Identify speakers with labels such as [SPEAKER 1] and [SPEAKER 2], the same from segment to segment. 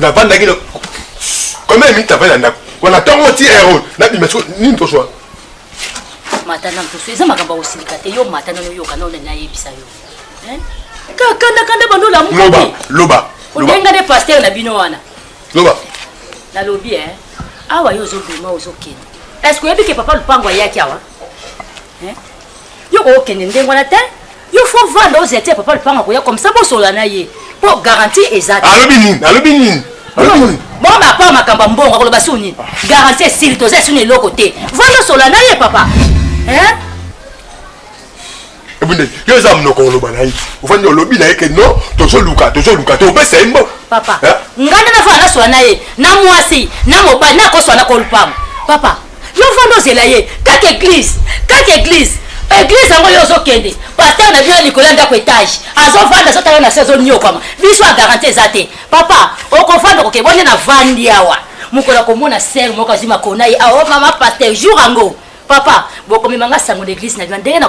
[SPEAKER 1] navandaki
[SPEAKER 2] combien minute avandi na ndako wana ntongo ti ero nabima siko nini mposo wana
[SPEAKER 1] mata na mposo eza makambo ya kosilika te yo mata nano oyoka nao nani ayebisa yo kakandakanda bando olamuloba loba obenga
[SPEAKER 2] nde paster
[SPEAKER 1] na bino wana loba
[SPEAKER 2] nalobi
[SPEAKER 1] e awa yo ozobima ozokende est ce que oyebi ke papa lupango ayaki awa yo kokokende ndenge wana te yo faut vanda ozi atia papa lupanga akoya comme ça bosola na ye po garantie eza te alobi nini alobi nini
[SPEAKER 2] bongo
[SPEAKER 1] bapaa makambo ya mbongo akoloba su nini garantie esili toza esu na eloko te vanda osola na ye papa
[SPEAKER 2] ebunde yo eza monoko oloba na ye ofandi olobi na ye ke non tozoluka tozoluka te opesa ye mbo papa ngai
[SPEAKER 1] nde nafaa nasola na ye na mwasi na mobali nakoswa na kolupama papa yo fanda ozela ye kaka eglise kaka eglise eglise yango yo ozokende paster na bino likolo ya ndako etage azovanda azotala na se azoniokwama biso ya garanti eza te papa okofanda koke bonde na vandi awa mokolo akomona ser moko azwi makona ye aomama paster jour yango papa bokomema nga sango na eglise na bino ndenge na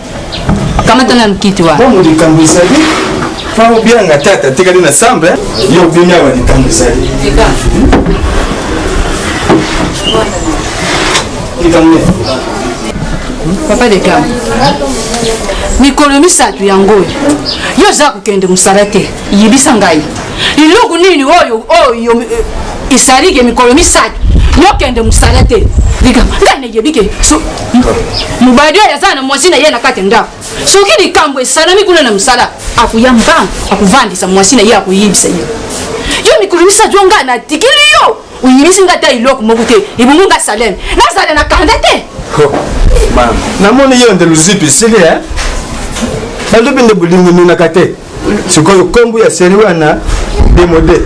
[SPEAKER 3] kamata na lukiti wa mpo likambo ezali
[SPEAKER 2] mpo obianga tata atikali na sambe eh? yo obimi awa likambo ezali
[SPEAKER 3] likambo papa de kam mikolo misato yango oyo yo oza kokende mosala te yebisa ngai eloko nini oyo oyo esalike eh, mikolo misato yokende mosala te likambo ngai nayebi ke mobali oyo aza na mwasi na ye na kati ya ndako soki likambo esalami kuna na mosala akoya mbangu akovandisa mwasi na ye akoyebisa ye yo mikolo misato yo ngai natikili yo oyebisi ngai ata eloko moko te ebongo ngai saleme nazala na kanda te
[SPEAKER 4] namoni yo nde luzipi esili e balobi nde bolingo emonaka te sikoyo kombo ya seri wana demode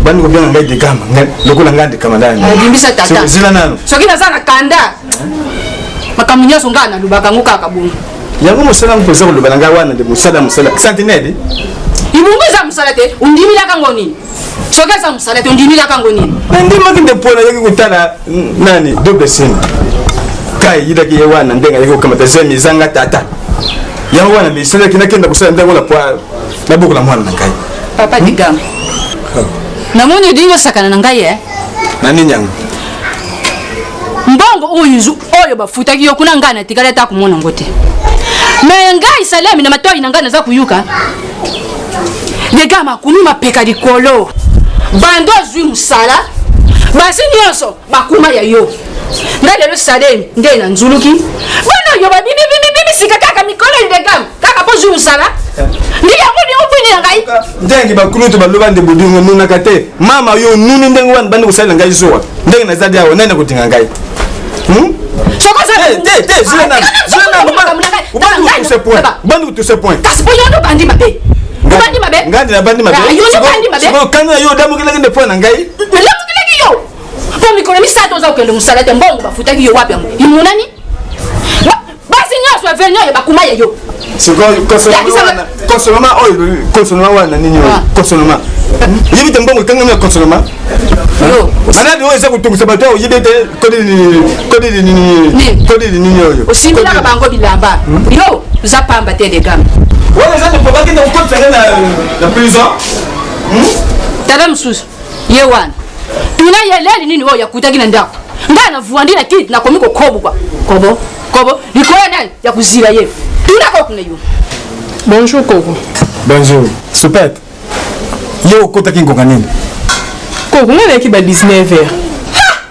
[SPEAKER 4] bandi kobenga ngai dekama lokola ngai ndekama ndayobimisa tata zela
[SPEAKER 3] nano soki naza
[SPEAKER 4] na kanda
[SPEAKER 3] makambo nyonso ngai nalobaka yango kaka bongo yango mosala yango
[SPEAKER 4] mpoza koloba na ngai wana nde mosala mosala sentinele ibongo
[SPEAKER 3] eza mosala te ondimilaka ngo nini soki eza mosala te ondimi kaka yango nini nandimaki nde mpo
[SPEAKER 4] nayaki kotala nani doble sene kai yidaki ye wana ndenge ayaki kokamata zemi ezanga tata yango wana misalaki nakenda kosala ntango na pwa nabokola mwana na ngai papa hmm? digam
[SPEAKER 3] oh. namoni odingi osakana na ngai e na nini yango
[SPEAKER 4] mbongo
[SPEAKER 3] oyo izu oyo bafutaki yo kuna ngai natikali ata komona yango te me ngai salemi na matoi na ngai naza koyuka lega makumi mapeka likolo bando azwi mosala basi nyonso bakuma ya yo nga lelo salemi nde na nzuluki bana yo babimibimibisika kaka mikolo ndegam kaka bozwi mosala ndi yango liobwini ya ngai ndenge bakulutu
[SPEAKER 4] baloba nde bodingo nunaka te mama yo nuni ndenge wana bandi kosalela ngai zuwa ndenge naza dia awa nani akotinga ngai hmm? obandi kutuse point kasi po yo nobandi mabe
[SPEAKER 3] obandi mabe ngandi nabandi
[SPEAKER 4] mabeokani na yo odamokelaki nde point na ngai nalamokelaki yo
[SPEAKER 3] po mikolo misato oza kokende mosala te mbongo bafutaki yo wapi yango imonani basi nyonso ya veni oyo bakuma ya yo
[SPEAKER 4] konsoloma oyo konsoloma wana nini oyo ah. konsoloma yebi te mbongo ekangami ya konsoloma anani oyo eza kotungisa bato oyo oyebi ete kodili nini oyo osimbilaka bango bilamba
[SPEAKER 3] hmm? yo oza pamba te degame wana eza ndeko
[SPEAKER 4] bakende kokotisa nde na prison
[SPEAKER 3] hmm? tala mosusu ye wana tuna ye leli nini oyo yakutaki na ndako ngai navwandi na kiti nakomi kokobuka kobo kobo likolo ya nani ya kozila ye tuna kokuna yo bonjour
[SPEAKER 5] koko bonjour
[SPEAKER 4] supete ye okotaki ngonga nini koko
[SPEAKER 5] ngai nayaki ba 19 heures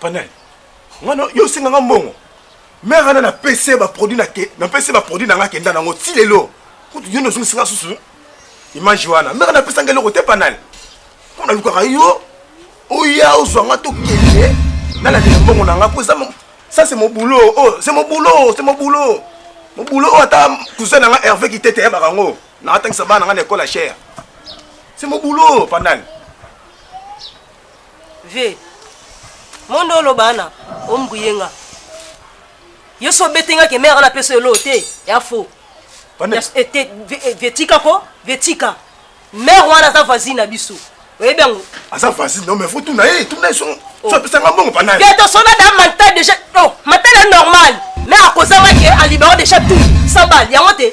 [SPEAKER 6] Panel.
[SPEAKER 4] Ngana yo singa nga mbongo. Mère ana na PC ba produit na ke na PC ba produit na nga kenda nango ti lelo. Kutu yo no singa singa susu. Image wana. Mère na pesa ngelo kote panel. Kuna lukaka yo. Oya ozwa nga to kende. Na la mbongo na nga po eza ça c'est mon boulot. Oh, c'est mon boulot, c'est mon boulot. Mon boulot oh, ata cousin na nga Hervé ki tete ya bakango. Na atangisa bana nga na école à cher. C'est mon boulot, panel.
[SPEAKER 6] ve mondo oloba ana ombuye nga yo so obeti nga ke mère ana pesa elo te ya fo vetika ko vetika mère wana aza voisine na biso oyebi yango aza voisine no mais fo
[SPEAKER 4] tuna ye tuna ye sono oh. so apesa nga mbongo pana ye to sona da manta
[SPEAKER 6] déjà oh manta na normal mais akozanga ke alibero déjà tout sabal yango te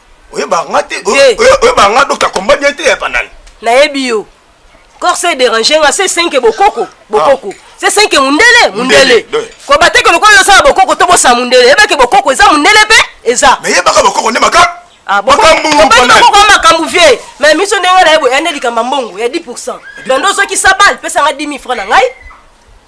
[SPEAKER 2] oyebaka nga te Te. oye- oyebaka nga dokta komba bien te ya panani nayebi yo
[SPEAKER 6] corse dérange nga se senke bokoko bokoko se senke mundele mundele Mundele, de. koba te ke lokola ozosala bokoko to bosala mundele yeba ke bokoko eza mundele mpe eza me yebaka bokoko nde maka
[SPEAKER 2] Ah, boko- makambo tobandi panani bokoko ya makambo
[SPEAKER 6] vie me miso ndenge na ye boye ande likambo ya mbongo ya 10 pourcent bando ozokisa bale pesanga 10 000 franc na ngai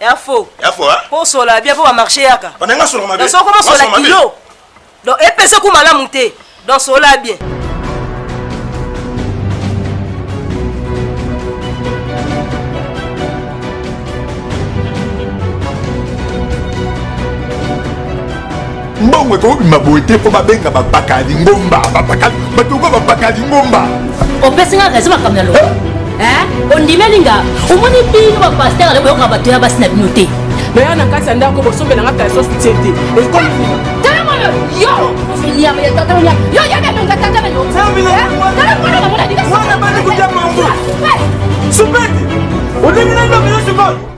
[SPEAKER 6] ya faux ya faux hein pour sola
[SPEAKER 2] bien pour ba
[SPEAKER 6] marché yaka on nga sola mabe donc
[SPEAKER 2] comment sola kilo
[SPEAKER 6] donc epesa ku malamu te donc sola bien
[SPEAKER 2] mbongo ekobima boye te mpo babenga bapaka lingomba bapaka bato okoa bapaka lingomba opesi nga raison
[SPEAKER 1] makambo ya loba eh? ondimeli nga omoni bino bapaster ale boyoka bato ya basi na bino te naya na kati ya
[SPEAKER 5] ndako bosombela nga kalso soutien te Super! Olingi na ndoki yo sikoyo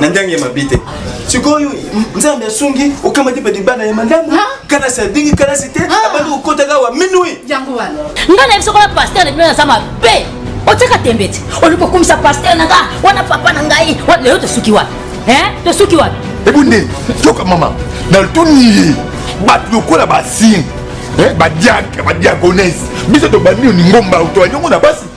[SPEAKER 4] na ndenge ya mabe te sikoyo nzambe asungi okamati mpe libanda ya malamu kalasi abingi kalasi te abandi kokotaka wa minui yango wana nga
[SPEAKER 3] na biso kola
[SPEAKER 1] paster na bino naza mabe otyaka tembe te olingi kokumisa paster na nga wana papa na ngai lelo tosuki wapi tosuki wapi ebunde toka
[SPEAKER 2] mama na lutuni ye bato lokola basini badiaka badiagonese biso tobandi yo ningomba tobandi yango na basi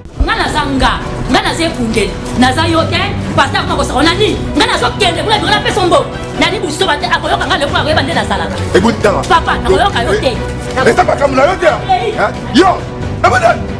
[SPEAKER 1] nga naza nga nga naza ekundeli naza yo te pasta akoma kosaka na nini nga nazokende kuna bikola peso mbo nani busoba te akoyoka nga lekola koyeba nde nazalaka papa
[SPEAKER 2] nakoyoka yo
[SPEAKER 1] te eza makambo na yo
[SPEAKER 2] te yo nabadani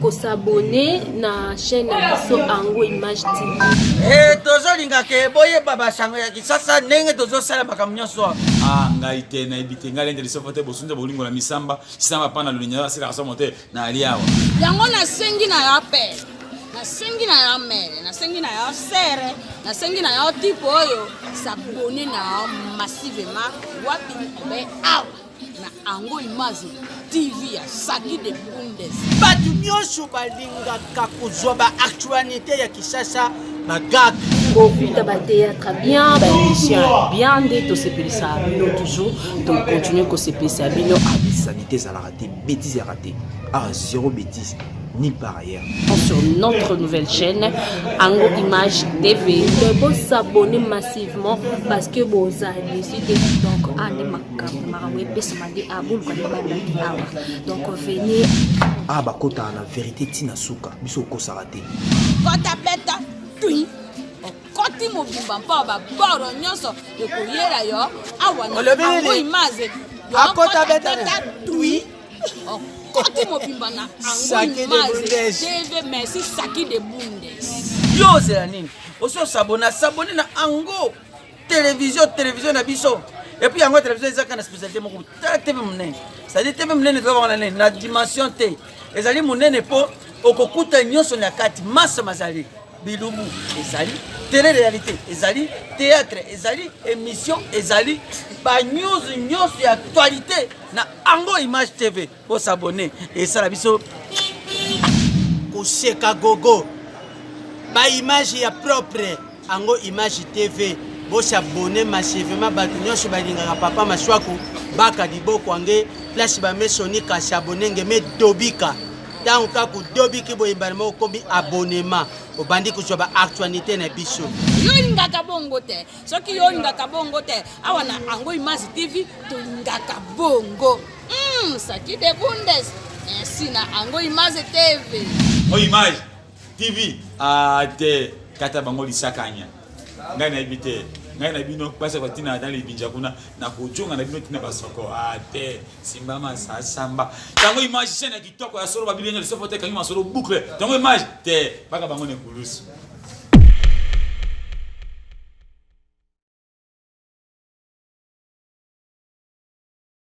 [SPEAKER 7] kosabone na chaîne na biso ango image tv e tozolinga
[SPEAKER 8] ke boyeba basango ya kisasa ndenge tozosala makambo nyonso a ah, ngai te
[SPEAKER 9] nayebi te ngai lende lisoko te bosunza bolingo na misamba kisamba mpa na lolenya asilaka somo te nayali awa yango nasengi
[SPEAKER 3] na ya pele nasengi na ya mele nasengi na ya sere nasengi na ya tipe oyo sabone na massivement wapi obe awa na ango imaze tv ya saki de bundes bato nyonso
[SPEAKER 8] balingaka kozwa baactualité ya kisasa bagaka kokuta
[SPEAKER 10] bateatre bien baémission ya bien nde tosepelisa bino toujours tocontinue kosepelisa bino sanité ezalaka
[SPEAKER 11] te bétise yaka te ah zéro bétise ni par ailleurs. Sur notre
[SPEAKER 10] nouvelle chaîne, Ango Image TV. Vous s'abonner
[SPEAKER 7] massivement parce que vous avez décidé donc à Quand makambo epesama nde a boluka nde bandaki awa donc venez ah bakotaka
[SPEAKER 11] na verité ntina suka biso okosaka te kota beta
[SPEAKER 3] tui okoti mobimba mpo baboro nyonso ekoyela yo awa nango image akota
[SPEAKER 8] beta tui
[SPEAKER 3] okoti mobimba na ango image tv merci saki de bundes yo ozela nini
[SPEAKER 8] osi osabona sabone na ango Television, television na biso. Et puis yango television ezaka na spécialité moko tala TV munene. C'est-à-dire TV munene toza bana nene na dimension te. Ezali munene po okokuta nyonso na kati masse mazali bilubu ezali tele réalité ezali théâtre ezali émission ezali ba news nyonso ya actualité na ango image tv ko s'abonner esala biso koseka gogo ba image ya propre ango image tv bosabone masevema bato nyonso balingaka papa maswaku baka liboko ange place bamesoni kasi abone nge me dobika ntango kaka odobiki boyembani moko okomi abonema obandi kozwa baactualité na biso yo olingaka
[SPEAKER 3] bongo te soki yo olingaka bongo te awa na ango image tv tolingaka bongo Mm, Saki de Bundes. Merci na ango image TV. Oh image
[SPEAKER 9] TV. Ah te kata bango lisakanya. Ngai na ibite. Ngai na bino pasa kwa tina na libinja kuna na kujonga na bino tina basoko. Ah te simba masa samba. Tango image sena kitoko ya solo babili nyo lisofo te kangi masolo boucle. Tango image te baka bango ne kulusu.